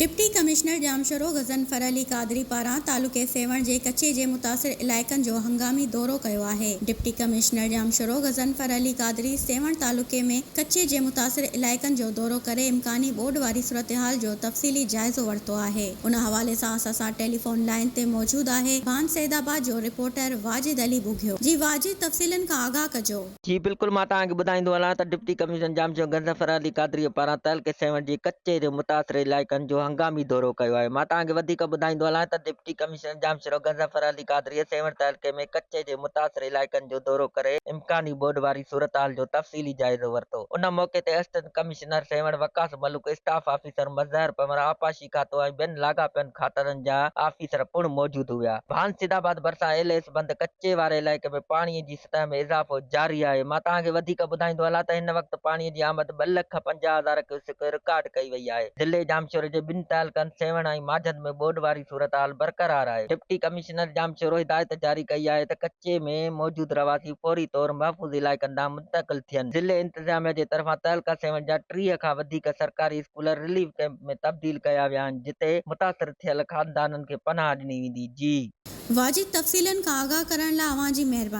Deputy commissioner Jamshoro Ghazanfar Ali Qadri پاران تعلقي سيوهڻ جي ڪچي جي متاثر علائقن جو هنگامي دورو ڪيو آهي. ڊپٽي ڪمشنر ڄامشورو غضنفر علي قادري سيوهڻ تعلقي ۾ ڪچي جي متاثر علائقن جو دورو ڪري امڪاني ٻوڏ واري صورتحال جو تفصيلي جائزو ورتو آهي. ان حوالي سان اسان سان ٽيليفون لائين تي موجود آهي ڀان سيدآباد جو رپورٽر واجد علي ٻگهيو. جي واجد تفصيلن کان آگاهه ڪجو. جي بلڪل مان توهان کي ٻڌائيندو هلان ته ڊپٽي ڪمشنر ڄام جي گن ظفر علي قادريء پاران تعلقي سيوهڻ جي ڪچي جي متاثر علائقن جو هنگامي دورو ڪيو آهي مان توهان کي وڌيڪ ٻڌائيندو هلان ته ڊپٽي ڪمشنر ڄامشورو گن ظفر علي قادريء سيوهڻ تعلقي ۾ ڪچي جي متاثر علائقن جو دورو ڪري امڪاني ٻوڏ واري صورتحال جو تفصيلي جائزو ورتو ان موقعي تي assistant commissioner Sehwan Waqas Malook staff officer Mazhar Panhwar آبپاشي ڪراچي کاتو ۽ ٻين لاڳاپيل کاتن جا آفيسر پڻ موجود هيا. ڀان سيد آباد ڀرسان ايل ايس بند ڪچي واري علائقي ۾ پاڻي جي سطح ۾ اضافو جاري آهي. مان توهان کي وڌيڪ ٻڌائيندو هلان ته هن وقت پاڻي جي آمد ٻه لک پنجاهه هزار ڪيوسڪ رڪارڊ ڪئي وئي آهي. ضلعي ڄامشوري جي ٻن تعلقن سيوهڻ ۽ ماجهند ۾ ٻوڏ واري صورتحال برقرار آهي. ڊپٽي ڪمشنر ڄامشورو هدايت جاري ڪئي آهي ته ڪچي ۾ موجود رهواسي فوري طور محفوظ علائقن ڏانهن منتقل ٿين. ضلعي انتظاميه جي طرفان تعلقه سيوهڻ جا ٽيهه کان وڌيڪ سرڪاري اسڪول رليف ڪئمپ، ۾ تبديل ڪيا ويا آهن جتي متاثر ٿيل خاندانن کي پناهه ڏني ويندي جي. واجد تفصيلن کان آگاهه ڪرڻ لاء اوهان جي مهرباني.